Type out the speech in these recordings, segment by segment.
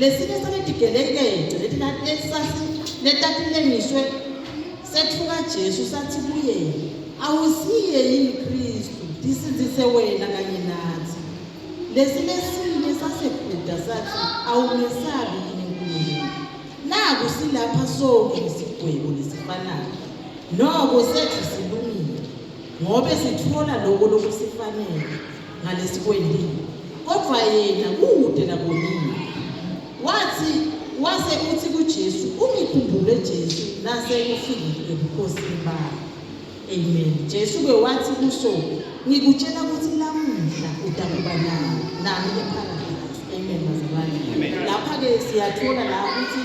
Lesinye sanedidelekejo letatilengiswe sethuka Jesu sathi kuye awusiye yini Kristu ndisinzise wena kanye nathi lesinye sinye sasekhuda sathi awumesabi yini Nkulunkulu naku silapha sonke isigwebo lesifanayo noko sethu silungile ngobe sithola lokho lokusifanele ngalesikwelini kodwa yena kude nakonini wathi wase uthi kuJesu ungikhumbule Jesu nase ufike ebukhosini bakho amen Jesu ke wathi kuso ngikutshela ukuthi lamuhla utakuba nami nami eparadise amen bazalwane lapha ke siyathola la ukuthi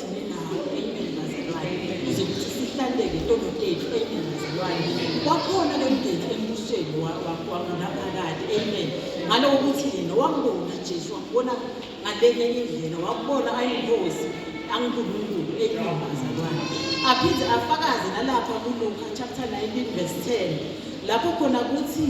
wakhona lo mgezi embusweni wakunaphakade amen ngalowo ukuthi yena wambona jesu wambona ngalenye indlela wabona ayingozi angunkulunkulu amen bazalwane aphinde afakaze nalapha kuluka chapter 19 verse 10 lapho khona kuthi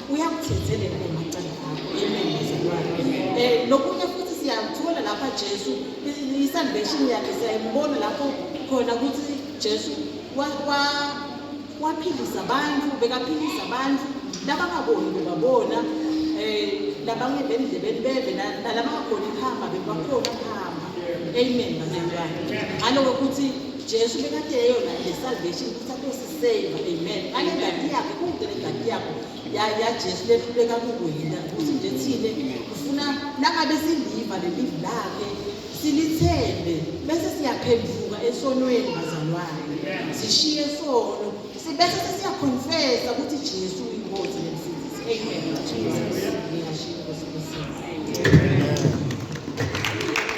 uyakuthethelela emacala akho amen bazalwane um nokunye futhi siyamthola lapha jesu i-salvation yakhe siyayimbona lapho khona ukuthi jesu waphilisa abantu bekaphilisa abantu labangaboni bebabona um labangeve endlebeni beve nalabangakhoni kuhamba bebakhona kuhamba amen bazalwane ngaloke ukuthi jesu bekade yeyona le salvation ukuthi Save, amen. Ngale ngadi yakhe kude le ngadi yakho ya ya Jesu lehluleka kukuhila futhi nje thine ufuna nangabe siliva lelivi lakhe silithembe bese siyaphenduka esonweni bazalwane sishiye sono sibese sesiyakhonfesa ukuthi Jesu uyinkosi nemsindisi amen Jesus ngiyashiya